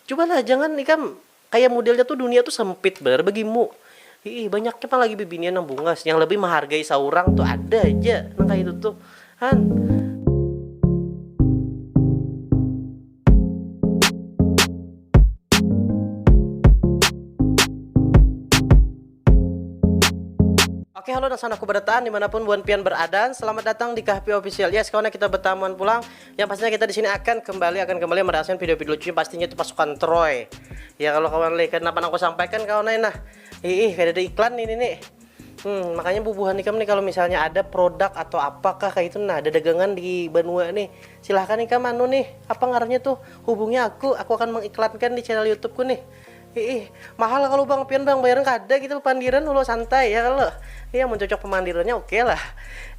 Cuba lah jangan ikam kaya mudelnya tu dunia tu sempit banar bagi mu. Iih banyaknya pang lagi bibinian nang bungas yang lebih mahargai saurang tu ada ja nang kaya itu tuh han. Oke halo nang sana ku barataan dimanapun buhan pian baradan selamat datang di Kahpi official yes kawan kita betamuan pulang. yang pastinya kita di sini akan kembali akan kembali merasakan video-video lucunya pastinya itu pasukan Troy ya kalau kawan lihat kenapa aku sampaikan kawan lain nah ih ada iklan ini nih hmm, makanya bubuhan ikam nih kalau misalnya ada produk atau apakah kayak itu nah ada dagangan di Banua nih silahkan ikam anu nih apa ngarannya tuh hubungi aku aku akan mengiklankan di channel YouTubeku nih Iih, mahal kalu bang, pian bang bayaran kada kita bapandiran ulu santai ya kalo. Nih amun cocok pamandirannya oke lah.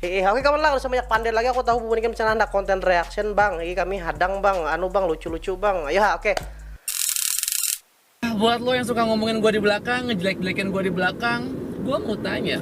Iih, oke kawan lah kada usah banyak pander lagi aku tahu bubuhan ikam di sana handak konten reaction bang, iih kami hadang bang, anu bang lucu lucu bang, ayo ha oke. Nah buat lo yang suka ngomongin gua di belakang, ngejelek-jelekin gua di belakang, gua mau tanya.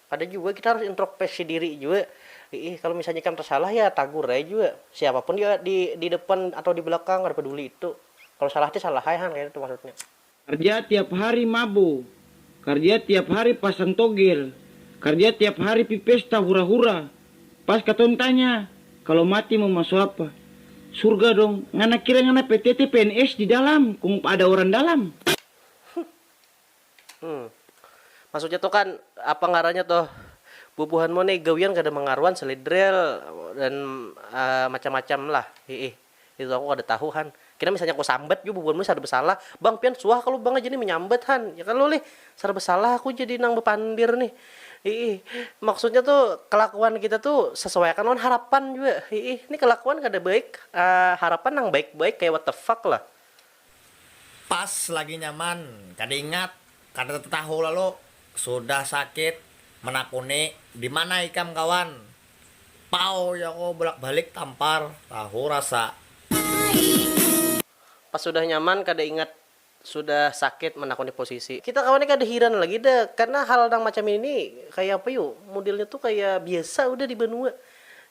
Kada jua kita harus intropeksi diri jua, iih kalo misalnya ikam tasalah ya tagur ai jua, siapa pun dia di di depan atau di belakang kada peduli itu, kalo salah ti salah ai han kaya itu maksudnya. Karja tiap hari mabu, karja tiap hari pasang togel, karja tiap hari pi pesta hura hura, pas katong tanya kalo mati mau masuk apa, surga dong, ngana kira ngana pptt pns di dalam kong ada orang dalam. Maksudnya tuh kan apa ngarannya tuh bubuhan mu nih gawian kada mangaruan selidril dan macam macam lah hiih itu aku kada tahu han kena misalnya aku sambat jua bubuhan mu nih sarba salah bang pian suah kalu bang jadi manyambat han ya kalu lih sarba salah aku jadi nang bapandir nih hiih maksudnya tuh kalakuan kita tuh sesuai akan lawan harapan jua hiih nih kalakuan kada baik harapan nang baik baik kaya what the fuck lah. Pas lagi nyaman, kada ingat, kada tatatahu lalu sudah sakit manakuni dimana ikam kawan, pau jar aku bulak balik tampar tahu rasa. Pas sudah nyaman kada ingat, sudah sakit manakuni posisi. Kita kawan ni kada hiran lagi dah karna hal nang macam ini kaya apa yu, modelnya tu kaya biasa udah di banua.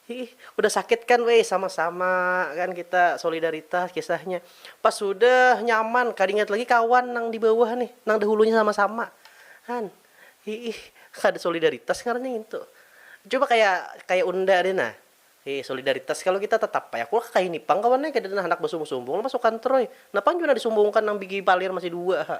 Hiih, udah sakit kan weh, sama-sama kan kita solidaritas kisahnya. Pas sudah nyaman, kada ingat lagi kawan nang di bawah nih, nang dahulunya sama-sama. Han, hiih, kada solidaritas ngarannya ngintu. Coba kaya kaya unda deh nah. Hiih, solidaritas kalu kita tetap ai aku kayini pang kawan ai, kadada handak basumbung-sumbung lah masukan troy. Napang jua nang disumbungkan nang bigi palir masih dua ha.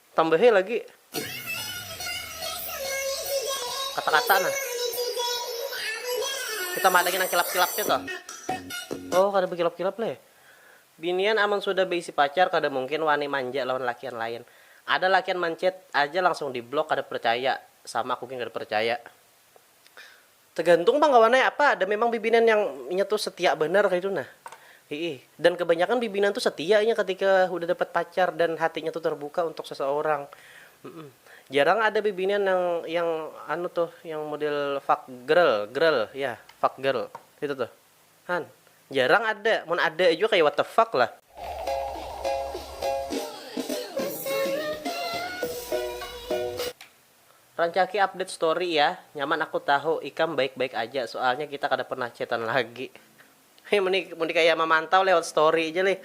Tambahi lagi kata-kata nah. Kita madangi nang kilap-kilapnya tuh. Oh, kada bekilap-kilap leh. Binian amun sudah beisi pacar kada mungkin wani manja lawan lakian lain. Ada lakian manchat aja langsung di block kada percaya, sama aku gin kada percaya. Tegantung pang kawan ai apa, ada memang bibinan yang inya tu setia banar kaitu nah, hiih. Dan kebanyakan bibinan tu setia inya ketika hudah dapat pacar dan hatinya tu terbuka untuk seseorang, humm. Jarang ada bibinan nang yang anu tuh yang model fuck grl, grl, yah fuck grl kaitu tuh han, jarang ada, mun ada jua kaya what the fuck lah. Rancaki update story ya. Nyaman aku tahu ikam baik baik aja soalnya kita kada pernah chatan lagi. Hei mun di mun di kaya mamantau lewat story ja lih.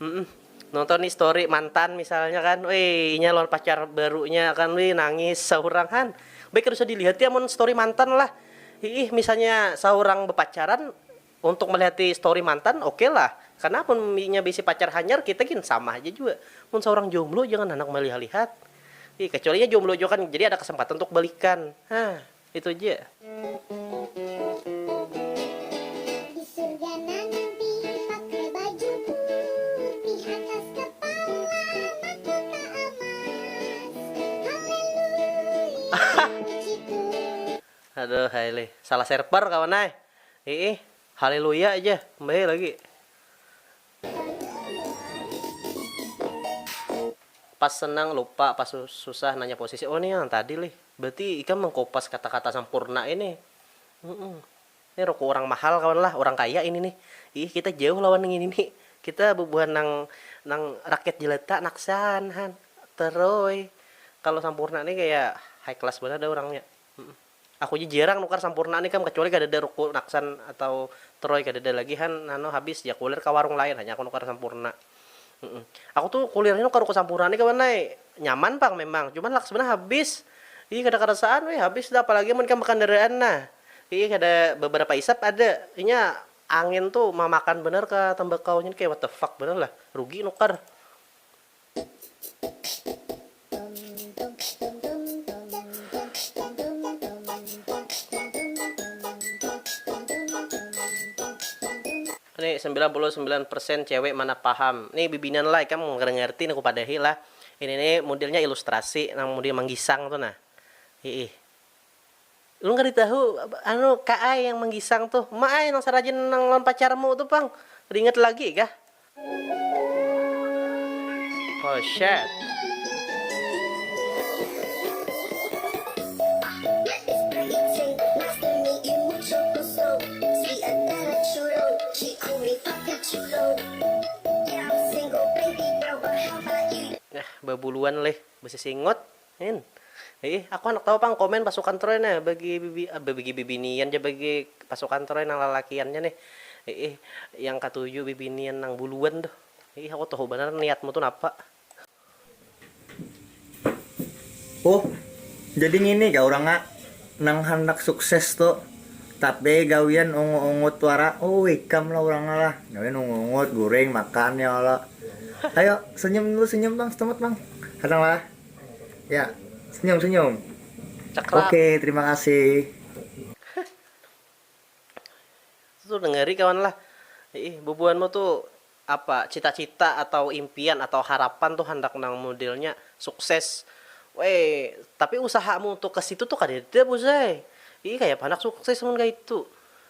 Humm nonton ni story mantan misalnya kan wih inya lawan pacar barunya kan wih nangis saurang han. Baik kada usah dilihat ya mun story mantan lah. Hiih misalnya saurang bepacaran Untuk melihati story mantan oke lah, karena amun inya beisi pacar hanyar kita gin sama haja jua. Mun saurang jomblo jangan handak melihat-lihat. Ih, kecuali inya jomblo jua kan jadi ada kesempatan untuk balikan. Hah, itu ja. Aduh, hai lih. Salah server kawan ai. Iih, haleluya ja, mbahee lagi. Pas senang lupa, pas susah nanya posisi, oh nih yang tadi lih, berarti ikam mengkopas kata-kata sampurna ini, humm, nih ruku urang mahal kawan lah, urang kaya ini nih, iih kita jauh lawan ngini ni, kita bubuhan nang nang rakyat jelata naksaan han, teroi, kalo sampurna nih kaya high class banar dah urangnya, humm. Aku ja jirang nukar sampurna ni kam kacuali kadada ruku naksan atau troy kadada lagi han anu habis ja kulir kawarung lain hanya aku nukar sampurna aku tu kulir ni nukar ruku sampurna ni kawan ai nyaman pang memang cuman laksmana habis ih kada karasaan weh habis dah apalagi amun ikam bakandaraan nah iih kada babarapa isap ada inya angin tu mamakan banar ka tembakau nya ni kaya what the fuck banar lah rugi nukar. Ini sembilan puluh sembilan persen cewek mana paham nih bibinan lah ikam kada ngerti nih kupadahi lah ini nih mudilnya ilustrasi nang mudil manggisang tu nah hiih. Ulun kada tahu anu ka ai yang manggisang tu. Ma ai nang sarajin nang lawan pacarmu tu pang. Kada ingat lagi kah? Oh shit. Nah babuluan leh basisingut. Hin. Iih, aku handak tahu pang komen pasukan Troy nih bagi bagi bibinian ja bagi pasukan Troy nang lalakiannya nih. Iih, yang katuju bibinian nang buluan tuh. Iih, aku tahu banar niatmu tuh napa. Oh, jadi ngini kah urangnya nang handak sukses tu. Tapi gawian ungu-ungut wara. Oh, ikam lah urangnya lah. Gawian ungu-ungut, guring, makan ya kalo. Ayo, senyum dulu senyum pang setumut pang. Handak lah. Ya, senyum-senyum. Ceklap. Oke, terima kasih. Tuh dengeri kawan lah. Iih, bubuhanmu tuh apa cita-cita atau impian atau harapan tuh handak nang modelnya sukses. Weh, tapi usahamu untuk ke situ tuh kadada buss ai. Iih, kayapa handak sukses mun kaya itu.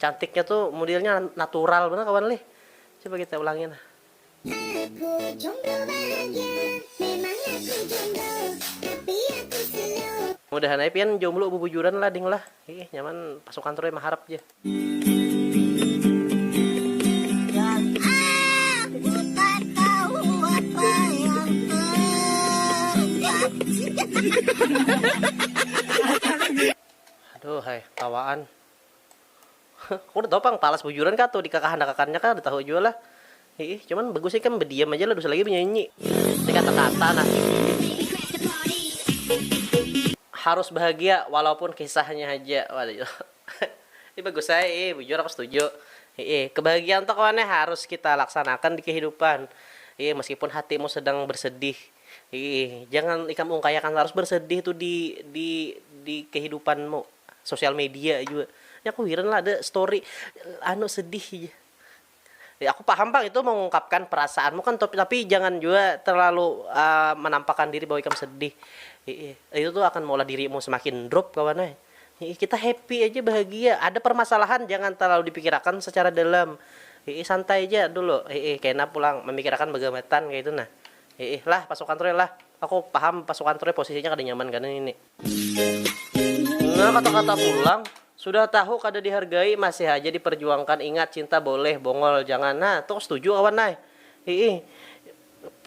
Cantiknya tu mudilnya natural banar kawan lih. Coba kita ulangi nah. Aku jomblo bahagia, memang aku jomblo, tapi aku slow. Mudahan ai pian jomblo bubujuran lah ding lah, hiih nyaman pasukan troy maharap ja. Aduhai tawaan. Aku kada tahu pang palas bujuran kah tu di kakahandakakannya kah kada tahu jua lah. Hiih cuman bagus ikam badiam aja lah dusa lagi banyanyi. Ini kata kata nah. Harus bahagia walaupun kisahnya haja waduh ini bagus ai ih bujur aku setuju hiih kebahagiaan tu kawan eh harus kita laksanakan di kehidupan hiih meskipun hatimu sedang bersedih. Iih, jangan ikam ungkayakan tarus bersedih tu di di di kehidupanmu, sosial media jua. Nih aku hiran lah ada story anu sedih ja. Ya aku paham pang itu mengungkapkan perasaanmu kan top tapi jangan jua terlalu menampakkan diri bahwa ikam sedih. Iih, itu tu akan maulah dirimu semakin drop kawan ai. Iih, kita happy aja bahagia, ada permasalahan jangan terlalu dipikirakan secara dalam. Iih, santai ja dulu. Iih, kena pulang memikirakan bagamatan kaya itu nah. Hiih lah pasukan tu lah. Aku paham pasukan tu posisinya kada nyaman kena ini. Nah kata-kata pulang, sudah tahu kada dihargai masih haja diperjuangkan ingat cinta boleh bongol jangan nah tu setuju kawan ai. Hiih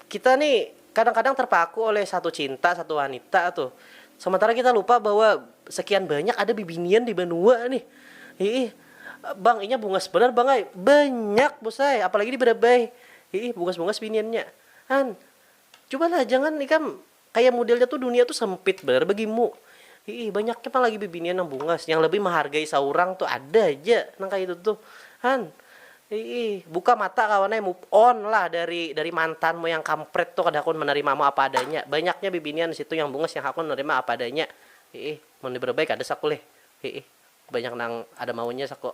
kita ni kadang-kadang terpaku oleh satu cinta satu wanita tu sementara kita lupa bahwa sekian banyak ada bibinian di banua nih. Hiih bang inya bungas banar bang ai. Banyak bus ai apalagi di Barabai. Hiih bungas-bungas biniannya. Han, cubalah jangan ikam kaya mudelnya tu dunia tu sempit banar bagimu. Hiih banyaknya pang lagi bibinian nang bungas, yang lebih mahargai saurang tu ada ja nang kaya itu tuh. Han, hiih buka mata kawan ai move on lah dari dari mantanmu yang kampret tu kada hakun manarimamu apa adanya. Banyaknya bibinian di situ yang bungas yang hakun manarima apa adanya. Hiih mun di Berbai kada saku lih. Hiih banyak nang ada maunya saku.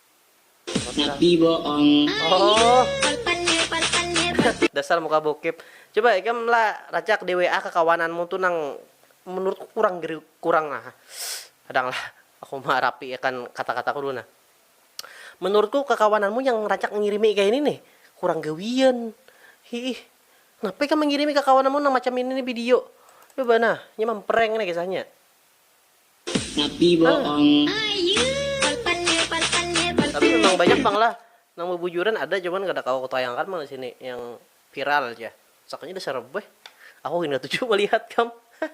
Tapi boong. Dasar muka bokep. Coba ikam la racak di WA kakawananmu tu nang menurutku kurang geri kurang nah kadang lah aku ma rapi akan kata kataku dulu nah menurutku kakawananmu yang racak ngirimi kaya ini nih kurang gawian hiih kenapa ikam mengirimi kakawananmu nang macam ini nih video coba nah nya memprank nih kisahnya. Tapi memang banyak pang lah nang bubujuran ada cuman kada kawa kutayangakan pang disini yang viral jar sakalinya dasar rebeh aku gin katuju malihat kam hahaha.